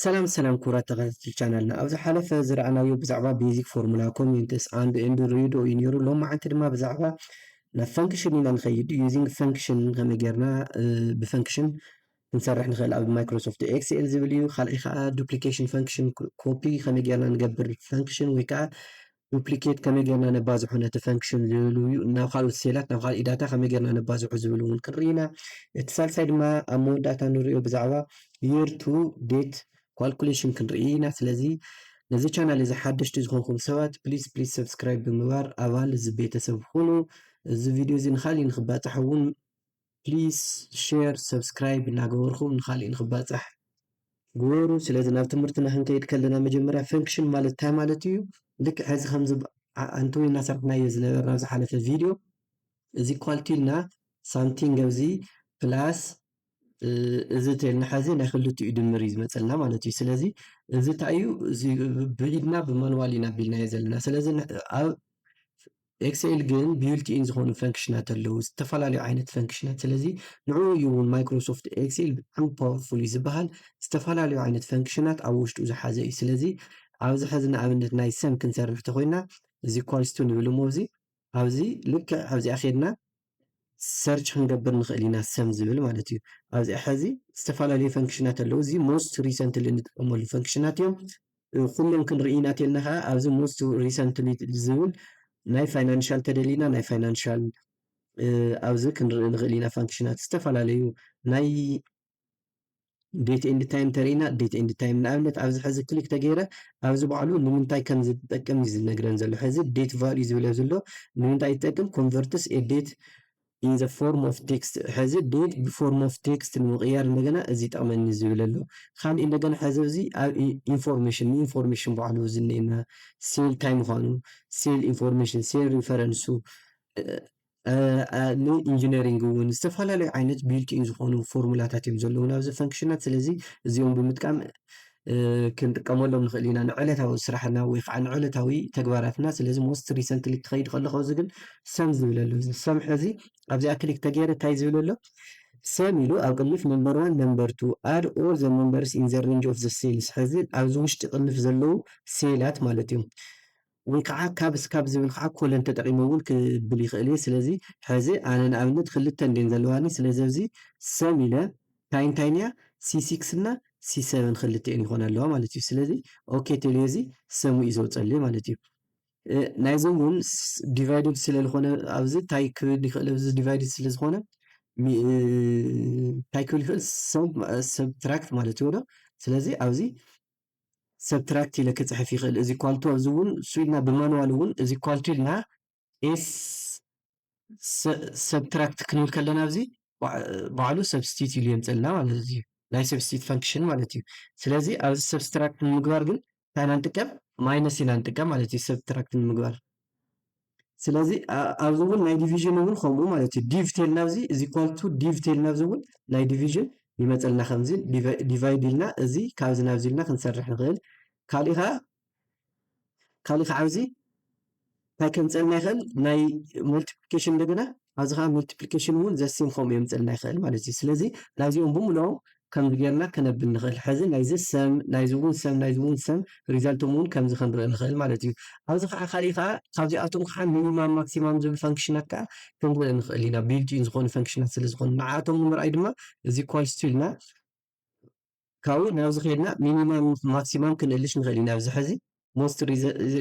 ሰላም ሰላም ክቡራት ተኸታተልቲ ቻናልና ኣብ ዝሓለፈ ዝረኣናዮ ብዛዕባ ቤዚክ ፎርሙላ ኮሜንትስ ኣንድ ኤንድ ሬድዮ እዩ ነይሩ ሎም መዓንቲ ድማ ብዛዕባ ናብ ፈንክሽን ኢና ንኸይድ ዩዚንግ ፈንክሽን ከመይ ጌርና ብፈንክሽን ክንሰርሕ ንኽእል ኣብ ማይክሮሶፍት ኤክስኤል ዝብል እዩ ካልኣይ ከዓ ዱፕሊኬሽን ፈንክሽን ኮፒ ከመይ ጌርና ንገብር ፈንክሽን ወይ ከዓ ዱፕሊኬት ከመይ ጌርና ነባዝሖ ነቲ ፈንክሽን ዝብሉ እዩ ናብ ካልኦት ሴላት ናብ ካልእ ዳታ ከመይ ጌርና ነባዝሖ ዝብል እውን ክንርኢ ኢና እቲ ሳልሳይ ድማ ኣብ መወዳእታ ንሪኦ ብዛዕባ የር ቱ ዴት ኳልኩሌሽን ክንርኢ ኢና ስለዚ ነዚ ቻናል እዚ ሓደሽቲ ዝኾንኩም ሰባት ፕሊስ ፕሊስ ሰብስክራይብ ብምግባር ኣባል እዚ ቤተሰብ ኹኑ እዚ ቪድዮ እዚ ንካሊእ ንክባፃሕ እውን ፕሊስ ሸር ሰብስክራይብ እናገበርኹም ንኻሊእ ንኽባፃሕ ግበሩ ስለዚ ናብ ትምህርትና ክንከይድ ከለና መጀመርያ ፈንክሽን ማለት ታይ ማለት እዩ ልክዕ ሕዚ ከምዚ ኣንትዊ እናሰርሕናዮ ዝነበርና ኣብ ዝሓለፈ ቪድዮ እዚ ኳልቲ ኢልና ሳምቲንግ ኣብዚ ፕላስ እዚ ተልና ሓዚ ናይ ክልቲኡ ድምር እዩ ዝመፀልና ማለት እዩ ስለዚ እዚ እንታይ እዩ እዚ ብኢድና ብማንዋል ኢና ኣቢልናዮ ዘለና ስለዚ ኣብ ኤክሰኤል ግን ቢውልት ኢን ዝኾኑ ፈንክሽናት ኣለዉ ዝተፈላለዩ ዓይነት ፈንክሽናት ስለዚ ንዕኡ እዩ እውን ማይክሮሶፍት ኤክሰኤል ብጣዕሚ ፓወርፉል እዩ ዝበሃል ዝተፈላለዩ ዓይነት ፈንክሽናት ኣብ ውሽጡ ዝሓዘ እዩ ስለዚ ኣብዚ ሕዚ ንኣብነት ናይ ሰም ክንሰርሕ ተኮይና እዚ ኳልስቱ ንብል እሞ እዚ ኣብዚ ልክዕ ኣብዚኣ ኬድና ሰርች ክንገብር ንኽእል ኢና ሰም ዝብል ማለት እዩ ኣብዚ ሕዚ ዝተፈላለዩ ፈንክሽናት ኣለዉ እዚ ሞስት ሪሰንትሊ እንጥቀመሉ ፈንክሽናት እዮም ኩለን ክንርኢና ተልና ከዓ ኣብዚ ሞስት ሪሰንትሊ ዝብል ናይ ፋይናንሻል ተደሊና ናይ ፋይናንሻል ኣብዚ ክንርኢ ንኽእል ኢና ፋንክሽናት ዝተፈላለዩ ናይ ዴት ኤንድ ታይም ተርእና ዴት ኤንድ ታይም ንኣብነት ኣብዚ ሕዚ ክሊክ ተገይረ ኣብዚ ባዕሉ ንምንታይ ከም ዝጠቅም እዩ ዝነግረን ዘሎ ሕዚ ዴት ቫልዩ ዝብል ዘሎ ንምንታይ ይጠቅም ኮንቨርትስ ኤ ዴት ኢን ዘ ፎርም ኦፍ ቴክስት ሕዚ ዴት ብፎርም ኦፍ ቴክስት ንምቕያር እንደገና እዚ ይጠቕመኒ ዝብል ኣሎ ካልእ እንደገና ሕዚ እዚ ኣብ ኢንፎርሜሽን ንኢንፎርሜሽን ባዕሉ ዝኔና ሴል ታይ ምዃኑ ሴል ኢንፎርሜሽን ሴል ሪፈረንሱ ንኢንጂነሪንግ እውን ዝተፈላለዩ ዓይነት ቢልቲን ዝኾኑ ፎርሙላታት እዮም ዘለውና ኣብዚ ፈንክሽናት ስለዚ እዚኦም ብምጥቃም ክንጥቀመሎም ንኽእል ኢና ንዕለታዊ ስራሕና ወይ ከዓ ንዕለታዊ ተግባራትና ስለዚ ሞስት ሪሰንትሊ ክኸይድ ከለኹ እዚ ግን ሰም ዝብል ኣሎ እዚ ሰም ሕዚ ኣብዚኣ ክሊክ ተገይረ እንታይ ዝብል ኣሎ ሰም ኢሉ ኣብ ቅንፍ ነምበር ዋን ነምበር ቱ ኣድ ኦል ዘ ነምበርስ ኢን ዘ ሬንጅ ኦፍ ዘ ሴልስ ሕዚ ኣብዚ ውሽጢ ቅንፍ ዘለዉ ሴላት ማለት እዮም ወይ ከዓ ካብ እስካብ ዝብል ከዓ ኮለን ተጠቂመ እውን ክብል ይክእል እየ። ስለዚ ሐዚ ኣነ ንኣብነት ክልተ እንድየን ዘለዋኒ ስለዚ ኣብዚ ሰም ኢለ ታይ እንታይን እያ ሲ ሲክስ እና ሲ ሰቨን ክልቲኤን ይኮና ኣለዋ ማለት እዩ። ስለዚ ኦኬ ቴልዮ እዚ ሰሙ እዩ ዘውፀለይ ማለት እዩ። ናይዚ እውን ዲቫይድድ ስለልኮነ ኣብዚ ታይ ክብል ይክእል ኣብዚ ዲቫይድድ ስለዝኮነ ታይ ክብል ይክእል ሰም ሰብትራክት ማለት እዩ ዶ ስለዚ ኣብዚ ሰብትራክት ኢለ ክጽሕፍ ይኽእል እዚ ኳልቶ እዚ እውን እሱ ኢልና ብማንዋል እውን እዚ ኳልቶ ኢልና ኤስ ሰብትራክት ክንብል ከለና እዚ ባዕሉ ሰብስቲት ኢሉ የምፀልና ማለት እዩ ናይ ሰብስቲት ፈንክሽን ማለት እዩ ስለዚ ኣብዚ ሰብስትራክት ንምግባር ግን እንታይ ኢና ንጥቀም ማይነስ ኢና ንጥቀም ማለት እዩ ሰብትራክት ንምግባር ስለዚ ኣብዚ እውን ናይ ዲቪዥን እውን ከምኡ ማለት እዩ ዲቭ ቴልና ኣብዚ እዚ ኳልቱ ዲቭ ቴልና ኣብዚ እውን ናይ ዲቪዥን ይመፀልና ከምዚ ዲቫይድ ኢልና እዚ ካብዚ ናብዚ ኢልና ክንሰርሕ ንኽእል ካሊእ ከዓ ካሊእ ከዓ ኣብዚ እንታይ ከምፀልና ይኽእል ናይ ሞልቲፕሊኬሽን እንደገና ኣብዚ ከኣ multiplication ውን the same ከምኡ የምጽእልና ይክእል ማለት እዩ ስለዚ ናይዚኦም ብምልኦም ከምዚ ጌርና ከነብል ንክእል ሕዚ ናይዚ sum ናይዚ ውን sum ናይዚ ውን sum ሪዛልቶም ውን ከምዚ ከንርኢ ንክእል ማለት እዩ ኣብዚ ከኣ ካሊእ ከኣ ካብዚኣቶም ከኣ ሚኒማም ማክሲማም ዝብል ፈንክሽናት ከኣ ክንርኢ ንክእል ኢና ቢልት ኢን ዝኮኑ ፈንክሽናት ስለ ዝኮኑ ንዓኣቶም ንምርኣይ ድማ እዚ equals to ኢልና ካውይ ናብዚ ከድና ሚኒማም ማክሲማም ክንእልሽ ንኽእል ኢና ኣብዚ ሕዚ ሞስት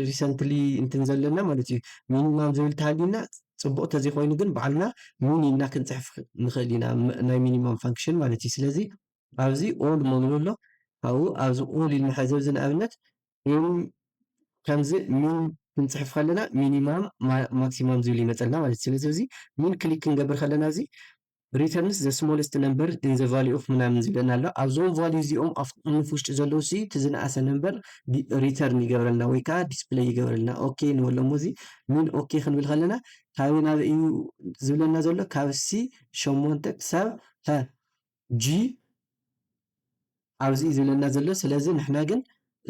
ሪሰንትሊ እንትን ዘለና ማለት እዩ ሚኒማም ዝብል ተሃሊና ፅቡቅ ተዘይኮይኑ ግን ባዕልና ሚኒ እና ክንፅሕፍ ንኽእል ኢና ናይ ሚኒማም ፋንክሽን ማለት እዩ ስለዚ ኣብዚ ኦል መብሎ ኣሎ ካብኡ ኣብዚ ኦል ኢልና ሕዚ ኣብዚ ንኣብነት ከምዚ ሚን ክንፅሕፍ ከለና ሚኒማም ማክሲማም ዝብል ይመፀልና ማለት እዩ ስለዚ እዚ ሚን ክሊክ ክንገብር ከለና እዚ ሪተርንስ ዘ ስሞለስት ነምበር ኢን ዘ ቫልዩ ኦፍ ምናምን ዝብለና ኣሎ ኣብዞም ቫልዩ እዚኦም ኣፍ ቅንፍ ውሽጢ ዘለዉ ሲ እቲ ዝነኣሰ ነምበር ሪተርን ይገብረልና ወይ ከዓ ዲስፕለይ ይገብረልና ኦኬ ንበሎ እሞ እዚ ሚን ኦኬ ክንብል ከለና ካበይ ናበይ እዩ ዝብለና ዘሎ ካብ ሲ ሸሞንተ ክሳብ ሀ ጂ ኣብዚ እዩ ዝብለና ዘሎ ስለዚ ንሕና ግን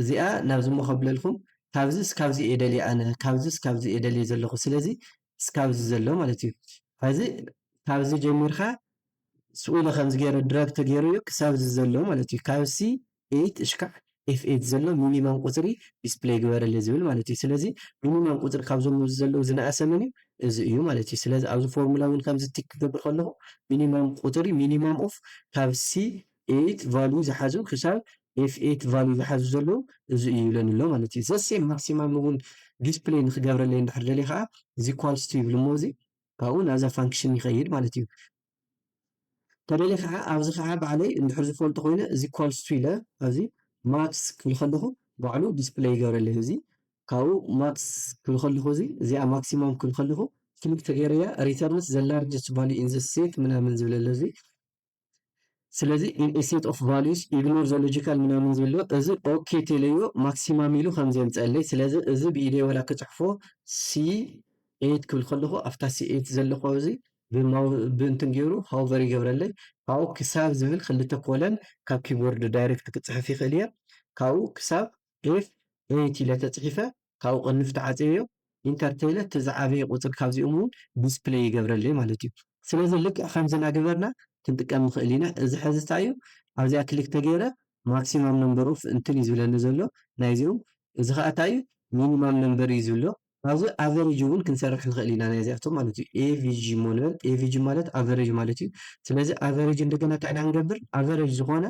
እዚኣ ናብዚ እሞ ከብለልኩም ካብዚ እስካብዚ እየ ደልየ ኣነ ካብዚ እስካብዚ እየ ደልየ ዘለኹ ስለዚ እስካብ እዚ ዘሎ ማለት እዩ ሐዚ ካብ እዚ ጀሚርካ ስቁ ኢሉ ከምዚ ገይሩ ድራግ ተገይሩ እዩ ክሳብ እዚ ዘሎ ማለት እዩ ካብ ሲ ኤይት እሽካዕ ኤፍ ኤይት ዘሎ ሚኒማም ቁፅሪ ዲስፕለይ ግበረለይ ዝብል ማለት እዩ ስለዚ ሚኒማም ቁፅሪ ካብዞም ኣብዚ ዘለው ዝነኣሰ መን እዩ እዚ እዩ ማለት እዩ ስለዚ ኣብዚ ፎርሙላ እውን ከምዚ ቲክ ክገብር ከለኩ ሚኒማም ቁፅሪ ሚኒማም ኦፍ ካብ ሲ ኤይት ቫልዩ ዝሓዙ ክሳብ ኤፍ ኤይት ቫልዩ ዝሓዙ ዘለዉ እዚ እዩ ይብለኒ ኣሎ ማለት እዩ ዘሴም ማክሲማም እውን ዲስፕሌይ ንክገብረለይ እንድሕር ደልየ ከዓ እዚ ኳልስቱ ይብል እሞ እዚ ካብኡ ናብዛ ፋንክሽን ይኸይድ ማለት እዩ ተደልየ ከዓ ኣብዚ ከዓ ባዕለይ እንድሕር ዝፈልጦ ኮይነ እዚ ኳልስቱ ኢለ ኣብዚ ማክስ ክብል ከለኹ ባዕሉ ዲስፕሌይ ይገብረለይ እዚ ካብኡ ማክስ ክብል ከለኹ እዚ እዚኣ ማክሲማም ክብል ከለኹ ክሊክ ተገይረያ ሪተርንስ ዘ ላርጀስት ቫልዩ ኢን ዘ ሴት ምናምን ዝብለለ እዚ ስለዚ ኢን ኤ ሴት ኦፍ ቫሉዩስ ኢግኖር ዘ ሎጂካል ምናምን ዝብል ዶ እዚ ኦኬ ቴለዮ ማክሲማም ኢሉ ከም ዘምጸለይ ስለዚ እዚ ብኢደይ ወላ ክጽሕፎ ሲ ኤይት ክብል ከለኹ ኣብታ ሲ ኤይት ዘለኹ ኣብዚ ብማው ብእንትን ገይሩ ሃውቨር ይገብረለይ ካብኡ ክሳብ ዝብል ክልተ ኮለን ካብ ኪቦርድ ዳይሬክት ክጽሕፍ ይኽእል እየ ካብኡ ክሳብ ኤፍ ኤይት ኢለ ተጽሒፈ ካብኡ ቅንፍ ትዓጽየዮ ኢንተር ተይለ እቲ ዝዓበየ ቁጽሪ ካብዚኦም እውን ዲስፕለይ ይገብረለይ ማለት እዩ ስለዚ ልክዕ ከምዚ ናገበርና ክንጥቀም ንክእል ኢና እዚ ሐዚ ታይ እዩ ኣብዚኣ ክሊክ ተገይረ ማክሲማም ነምበር ኦፍ እንትን እዩ ዝብለኒ ዘሎ ናይዚኦም እዚ ከዓ ታይ እዩ ሚኒማም ነምበር እዩ ዝብሎ ኣብዚ ኣቨሬጅ እውን ክንሰርሕ ንክእል ኢና ናይዚኣቶም ማለት እዩ avg እሞ ንበል avg ማለት ኣቨሬጅ ማለት እዩ ስለዚ ኣቨሬጅ እንደገና ታይ ኢና ክንገብር ኣቨሬጅ ዝኮነ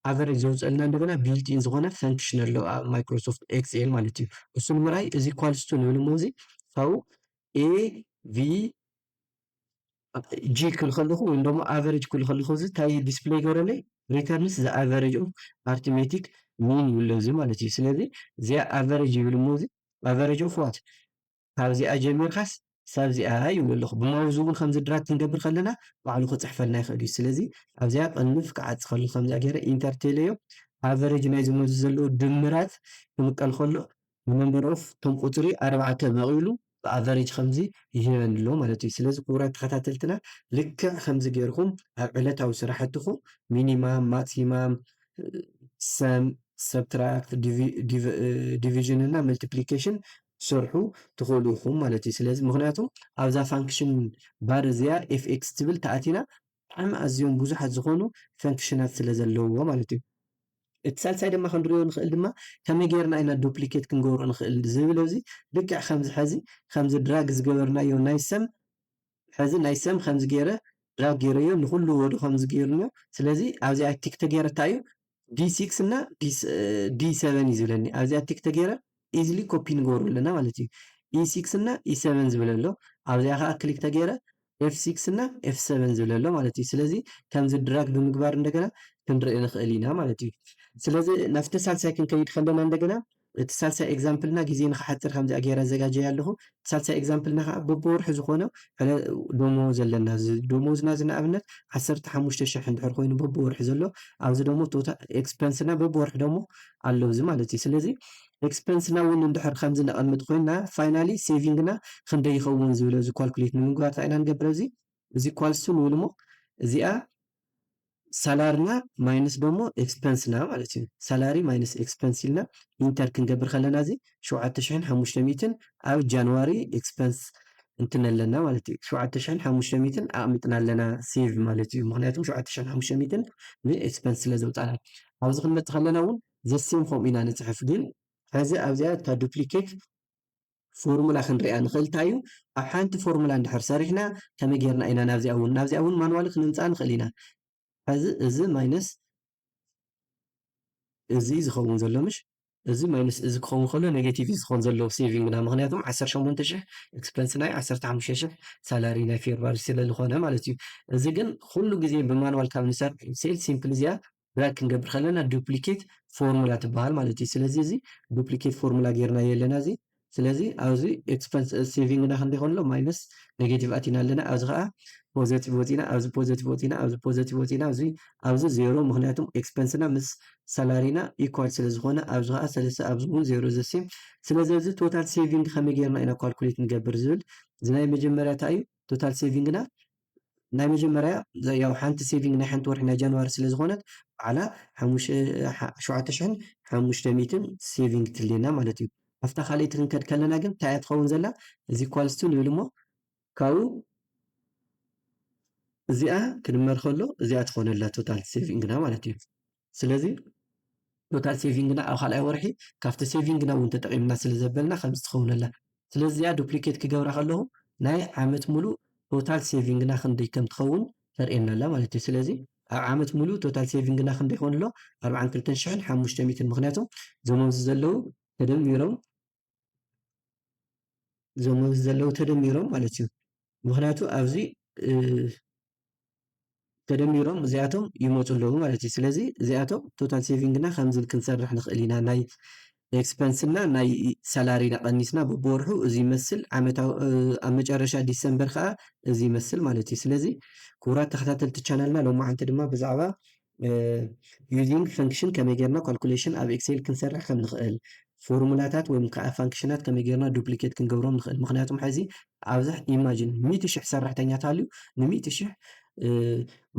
ኣቨረጅ ዘውፀእልና እንደገና ቢልት ኢን ዝኾነ ፈንክሽን ኣሎ ኣብ ማይክሮሶፍት ኤክስኤል ማለት እዩ። እሱ ንምርኣይ እዚ ኳልስቱ ንብል እሞ እዚ ካብኡ ኤ ቪ ጂ ክብል ከለኹ ወይም ደሞ ኣቨሬጅ ክብል ከለኹ እዚ እንታይ ዲስፕሌይ ይገብረለይ ሪተርንስ ዘ ኣቨሬጅ ኦፍ ኣርትሜቲክ ሚን ይብሎ እዚ ማለት እዩ ስለዚ እዚኣ ኣቨሬጅ ይብል እሞ እዚ ኣቨሬጅ ኦፍ ዋት ካብዚኣ ጀሚርካስ ክሳብ እዚኣ ይብሉ ኣለኹ። ብማውዝ እውን ከምዚ ድራግ ክንገብር ከለና ባዕሉ ክጽሕፈልና ይኽእል እዩ። ስለዚ ኣብዚኣ ቅንፍ ክዓጽ ከሎ ከምዚኣ ገይረ ኢንተር ቴለዮ ኣቨረጅ ናይዚ መዚ ዘለዎ ድምራት ክምቀል ከሎ ንመምበር ኦፍ እቶም ቁጽሪ ኣርባዕተ መቒሉ ብኣቨረጅ ከምዚ ይህበኒ ኣሎ ማለት እዩ። ስለዚ ክቡራት ተኸታተልትና ልክዕ ከምዚ ገይርኩም ኣብ ዕለታዊ ስራሕትኹም ሚኒማም፣ ማክሲማም፣ ሰም፣ ሰብትራክት፣ ዲቪ ዲቭ ዲቪዥን እና መልቲፕሊኬሽን ክትሰርሑ ትኽእሉ ኢኹም ማለት እዩ። ስለዚ ምኽንያቱ ኣብዛ ፋንክሽን ባር እዚኣ ኤፍኤክስ ትብል ተኣቲና ብጣዕሚ ኣዝዮም ብዙሓት ዝኾኑ ፈንክሽናት ስለ ዘለውዎ ማለት እዩ። እቲ ሳልሳይ ድማ ክንሪኦ ንኽእል ድማ ከመይ ጌርና ኢና ዱፕሊኬት ክንገብሮ ንኽእል ዝብለዚ ልክዕ ከምዚ ሐዚ ከምዚ ድራግ ዝገበርናዮ ናይ ሰም ሐዚ ናይ ሰም ከምዚ ገይረ ድራግ ገይረዮ ንኹሉ ወደ ከምዚ ገይርሞ ስለዚ ኣብዚኣ ቲክ ተገይረ ታይ እዩ ዲ ሲክስ እና ዲ ሰቨን እዩ ዝብለኒ ኣብዚኣ ቲክ ተገይረ ኢዝሊ ኮፒ ንገብሮ ኣለና ማለት እዩ ኢ ሲክስ እና ኢ ሰቨን ዝብል ኣሎ ኣብዚኣ ከዓ ክሊክ ተገይረ ኤፍ ሲክስ እና ኤፍ ሰቨን ዝብል ኣሎ ማለት እዩ ስለዚ ከምዚ ድራግ ብምግባር እንደገና ክንርኢ ንኽእል ኢና ማለት እዩ ስለዚ ናብቲ ሳልሳይ ክንከይድ ከለና እንደገና እቲ ሳልሳይ ኤግዛምፕልና ግዜ ንክሓጽር ከምዚኣ ጌረ ኣዘጋጅያ ኣለኹ። እቲ ሳልሳይ ኤግዛምፕልና ከኣ በብወርሑ ዝኾነ ዕለ ዶሞዝ ኣለና። እዚ ዶሞዝና እዚ ንኣብነት ዓሰርተ ሓሙሽተ ሽሕ እንድሕር ኮይኑ በብወርሑ ዘሎ ኣብዚ ደሞ ቶታ ኤክስፐንስና በብወርሑ ደሞ ኣሎ እዚ ማለት እዩ። ስለዚ ኤክስፐንስና እውን እንድሕር ከምዚ ነቐምጥ ኮይና ፋይናሊ ሴቪንግና ክንደይ ይኸውን ዝብለ እዚ ኳልኩሌት ንምግባር ታይ ኢና ንገብር ኣብዚ እዚ ኳልሱ ንብል እሞ እዚኣ ሳላርና ማይነስ ደሞ ኤክስፐንስና ማለት እዩ። ሳላሪ ማይነስ ኤክስፐንስ ኢልና ኢንተር ክንገብር ከለና እዚ ሸውዓተ ሽሕን ሓሙሽተ ሚእትን ኣብ ጃንዋሪ ኤክስፐንስ እንትን ኣለና ማለት እዩ። ሸውዓተ ሽሕን ሓሙሽተ ሚእትን ኣቕሚጥና ኣለና ሴቭ ማለት እዩ። ምክንያቱም ሸውዓተ ሽሕን ሓሙሽተ ሚእትን ንኤክስፐንስ ስለ ዘውፃና ኣብዚ ክንመፅእ ከለና እውን ዘሴም ከምኡ ኢና ንፅሕፍ ግን ሕዚ ኣብዚኣ እታ ዱፕሊኬት ፎርሙላ ክንሪኣ ንኽእል ታዩ ኣብ ሓንቲ ፎርሙላ እንድሕር ሰሪሕና ከመይ ጌርና ኢና ናብዚኣ እውን ናብዚኣ እውን ማንዋሊ ክንምጻኣ ንኽእል ኢና ሕዚ እዚ ማይነስ እዚ ዝኸውን ዘሎ ምሽ እዚ ማይነስ እዚ ክኸውን ከሎ ኔጌቲቭ ዝኸውን ዘለዎ ሴቪንግና ምክንያቱም ዓሰርተ ሸሞንተ ሽሕ ኤክስፐንስ ናይ ዓሰርተ ሓሙሽተ ሽሕ ሳላሪ ናይ ፌብራሪ ስለ ዝኾነ ማለት እዩ እዚ ግን ኩሉ ግዜ ብማንዋል ካብ ንሰርሕ ሴል ሲምፕል እዚኣ ድራግ ክንገብር ከለና ዱፕሊኬት ፎርሙላ ትበሃል ማለት እዩ ስለዚ እዚ ዱፕሊኬት ፎርሙላ ጌርናዮ ኣለና እዚ ስለዚ ኣብዚ ኤክስፐንስ ሴቪንግና ክንደይ ይኾን ኣሎ ማይነስ ኔጌቲቭ ኣቲና ኣለና ኣብዚ ከዓ ፖዘቲቭ ወፂና ኣብዚ ፖዘቲቭ ወፂና ኣብዚ ፖዘቲቭ ወፂና እዚ ኣብዚ ዜሮ ምክንያቱም ኤክስፐንስና ምስ ሳላሪና ኢኳል ስለ ዝኾነ ኣብዚ ከዓ ሰለስተ ኣብዚ እውን ዜሮ ዘሴም ስለዚ እዚ ቶታል ሴቪንግ ከመይ ጌርና ኢና ኳልኩሌት ንገብር ዝብል እዚ ናይ መጀመርያ እንታይ እዩ ቶታል ሴቪንግና ናይ መጀመርያ ያው ሓንቲ ሴቪንግ ናይ ሓንቲ ወርሒ ናይ ጃንዋሪ ስለ ዝኾነት በዓላ ሸውዓተ ሽሕን ሓሙሽተ ሚእትን ሴቪንግ ትልየና ማለት እዩ። ኣብታ ካልኣይቲ ክንከድ ከለና ግን እንታይ እያ ትኸውን ዘላ እዚ ኳልስቱ ንብል እሞ ካብኡ እዚኣ ክድመር ከሎ እዚኣ ትኾነላ ቶታል ሴቪንግና ማለት እዩ። ስለዚ ቶታል ሴቪንግና ኣብ ካልኣይ ወርሒ ካብቲ ሴቪንግና እውን ተጠቒምና ስለ ዘበልና ከምዚ ትኸውነላ ስለዚ እዚኣ ዱፕሊኬት ክገብራ ከለኹ ናይ ዓመት ሙሉእ ቶታል ሴቪንግና ክንደይ ከም ትኸውን ተርእየና ኣላ ማለት እዩ ስለዚ ኣብ ዓመት ሙሉእ ቶታል ሴቪንግና ክንደይ ይኸውን ኣሎ ኣርብዓን ክልተን ሽሕን ሓሙሽተ ሚእትን ምክንያቱ እዞም ኣብዚ ዘለዉ ተደሚሮም እዞም ኣብዚ ዘለዉ ተደሚሮም ማለት እዩ ምክንያቱ ኣብዚ ተደሚሮም እዚኣቶም ይመፁ ኣለዉ ማለት እዩ ስለዚ እዚኣቶም ቶታል ሴቪንግና ከምዚ ክንሰርሕ ንኽእል ኢና ናይ ኤክስፐንስና ናይ ሳላሪና ቀኒስና በብወርሑ እዚ ይመስል ዓመታዊ ኣብ መጨረሻ ዲሰምበር ከዓ እዚ ይመስል ማለት እዩ ስለዚ ክቡራት ተኸታተልቲ ቻናልና ሎማዓንቲ ድማ ብዛዕባ ዩዚንግ ፈንክሽን ከመይ ጌርና ካልኩሌሽን ኣብ ኤክሴል ክንሰርሕ ከም ንኽእል ፎርሙላታት ወይም ከዓ ፋንክሽናት ከመይ ጌርና ዱፕሊኬት ክንገብሮም ንኽእል ምክንያቱም ሕዚ ኣብዚ ኢማጂን ሚእቲ ሽሕ ሰራሕተኛ ተሃልዩ ንሚእቲ ሽሕ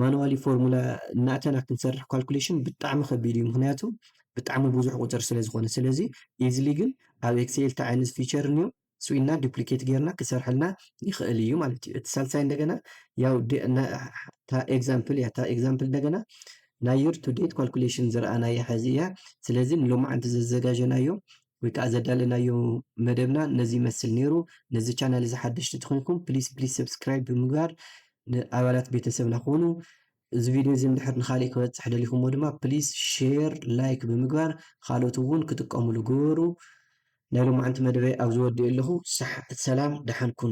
ማንዋሊ ፎርሙላ እናእተና ክንሰርሕ ካልኩሌሽን ብጣዕሚ ከቢድ እዩ ምክንያቱ ብጣዕሚ ብዙሕ ቁፅር ስለ ዝኾነ ስለዚ ኢዝሊ ግን ኣብ ኤክስኤል እንታይ ዓይነት ፊቸር እንዮ ስኢንና ዱፕሊኬት ጌርና ክሰርሐልና ይኽእል እዩ ማለት እዩ። እቲ ሳልሳይ እንደገና ያው እታ ኤግዛምፕል እያ። እታ ኤግዛምፕል እንደገና ናይ ዩር ቱ ዴት ኳልኩሌሽን ዝረኣናያ ሐዚ እያ። ስለዚ ንሎማዓንቲ ዘዘጋጀናዮ ወይ ከዓ ዘዳለናዮ መደብና ነዚ ይመስል ነይሩ። ነዚ ቻናል እዚ ሓደሽቲ ትኾንኩም ፕሊስ ፕሊስ ሰብስክራይብ ብምግባር ንኣባላት ቤተሰብና ክኾኑ እዚ ቪድዮ እዚ እንድሕር ንኻሊእ ክበጽሕ ደሊኹሞ ድማ ፕሊስ ሼር ላይክ ብምግባር ኻልኦት እውን ክጥቀሙሉ ግበሩ። ናይ ሎማዕንቲ መደበይ ኣብዚ ወዲኤ ኣለኹ ሰላም ደሓን ኩኑ።